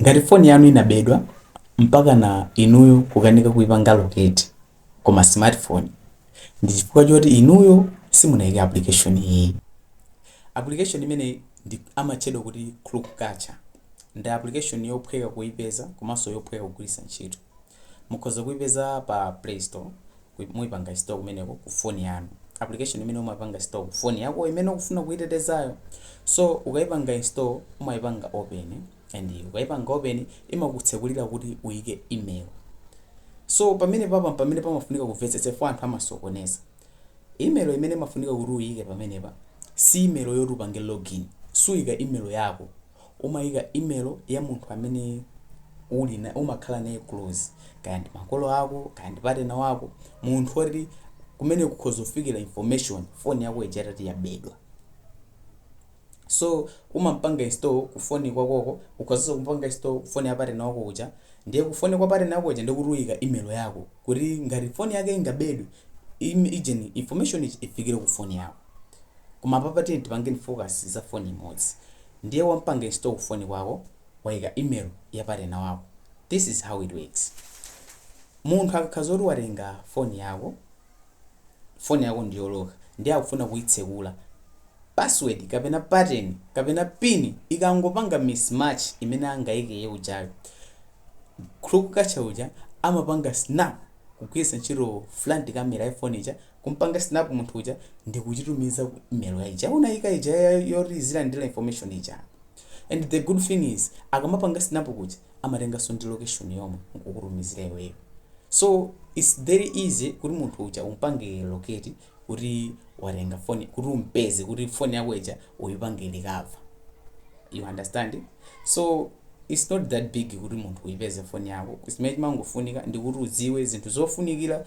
Ngati foni yanu inabedwa mpakana inuyo kukanika kuipanga locate koma smartphone, ndi chifukwa choti inuyo simunaike application iyi. Application imeneyi ndi amatchedwa kuti CrookCatcher. Ndi application yophweka kuipeza komanso yophweka kugwiritsa ntchito. Mukhoza kuipeza pa play store kuip muipanga install kumeneko ku phone yanu. Application imene umapanga install ku phone yakoyo imene ukufuna kuitetezayo. So ukaipanga install umaipanga open and ukaipanga open imakutsekulira kuti uike email. So pamenepa pa pamene pamafunika kumvetsetsa chifukwa anthu amasokoneza. Email imene imafunika kuti uiike pamenepa si email yoti upange login. Suika email yako. umaika email ya munthu amene uli na umakhala naye close kaya ndi makolo ako kaya ndi patena wako munthu oti kumene kukhoza kufikira information foni yako ija itati yabedwa so umampanga install ku foni kwakoko ukhozanso kumpanga install ku foni ya patena wako uja ndiye ku foni kwa patena wako uja ndikuti uika email yako kuti ngati foni yake ingabedwe im- ijeni information ija ifikire ku foni yako Koma apapa tiyeni tipangeni focus za phone imodzi. Ndiye wampanga install ku phone kwako waika email ya partner wako. This is how it works. Munthu akakhala zoti watenga phone yako, phone yako ndi yoloka ndiye akufuna kuitsekula, password kapena pattern kapena pin ikangopanga mismatch imene angaike iye ujayo, crook catcher uja amapanga snap kugwiritsa ntchito front camera ya phone ija kumpanga snap munthu uja ndikuchitumiza ku email ya ija unayika ija ya- yoti izilandira information ija and the good thing is akamapanga snap kuja amatenganso ndi location yomwe nkukutumizira iweyo so it's very easy kuti munthu uja umpange locate kuti watenga foni kuti umpeze kuti foni yako ija uyipange recover you understand so it's not that big kuti munthu uyipeze foni yako zimene chimangofunika ndikuti udziwe zinthu zofunikira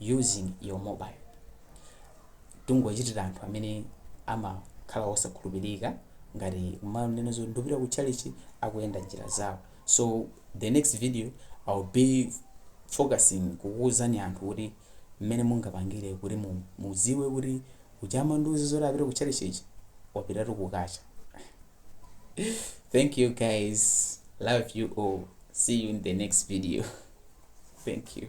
using your mobile tikungowachitira anthu amene amakhala osakhulupirika ngati kumanena zoti ndikupita ku church akuyenda njira zawo so the next video i'll be focusing kukuuzani anthu kuti mmene mungapangire kuti mu- mudziwe kuti uja amandiuza zoti apita ku tchalitchichi wapitatu kukacha thank you guys love you all see you in the next video thank you